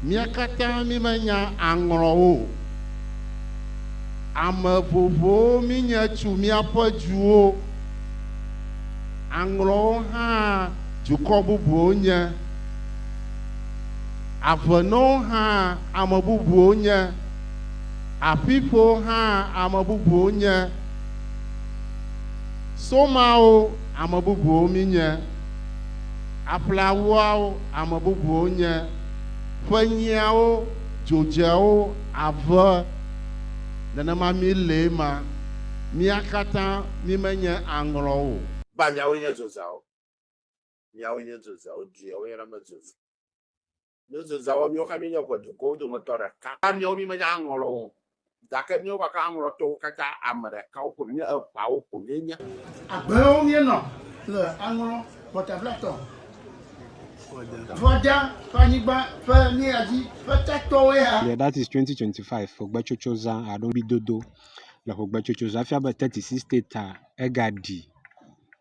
Mía katã mímenya aŋlɔwo o. Ame vovovowo mínye tso míaƒe duwo. Aŋlɔwo hã dukɔ bubuwo nye. Avenɔwo hã ame bubuwo nye. Aƒiƒowo hã ame bubuwo nye. Somawo ame bubuwo mínye. Aƒleawoawo ame bubuwo nye, ƒe nyiawo, dzodzeawo, ave, nenema mí lee ma, mía katã mí menye aŋlɔ o. Ba miawoe nye dzodzeawo. Miawoe nye dzodzeawo, dzodzeawo yɔna be dzodze. Yesu zã wɔ míwo ke míenye ŋe dukɔwo dometɔ ɖeka. Ke míawo mímenya aŋlɔ lɔ o, gake míwo gake aŋlɔtɔwo katã ame ɖeka wo ko míe eŋawo ko míenye. Agbewo míenɔ le aŋlɔ mɔtablatɔ Vɔda ƒe anyigba ƒe míadzi ƒe tatɔwoe ha. Yeah that is twenty twenty five xogbetsotso zã alo ŋbidodo le xogbetsotso zã fia be thirty six state a ega ɖi.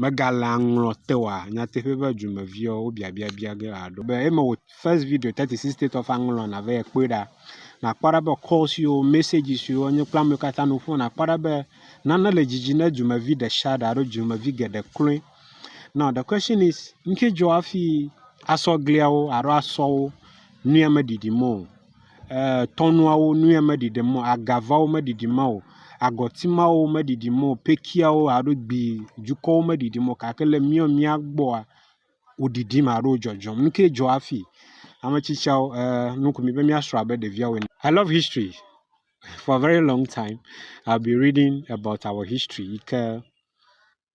Megalea ŋlɔ te oa? Nyateƒe be dumeviwo wo biabia bia ge aɖo be eme wò first video thirty six state of aŋlɔ nave ekpɔe ɖa. Nàkpɔ ɖa be calls yiwo, messages yiwo enye kple amewo katã nu ƒo nàkpɔ ɖa be nane le dzidzi ne dumevi ɖe sia ɖe alo dumevi geɖe kloe. Now the question is nu ke dzɔ hafi asɔ gliawo alo asɔ wo nue meɖiɖim o. ee tɔnuawo nue meɖi ɖem o, agavawo meɖiɖim o, agɔti mawo meɖiɖim o, pekiawo alo gbi dzukɔwo meɖiɖim o gake le mía mía gbɔa, woɖiɖim alo dzɔdzɔm. Nu kae dzɔ hafi? Ame tsitsiawo ee nu ko mi be míasrɔ̃ abe ɖeviawo ene. I love history. For a very long time I'll be reading about our history yi ke.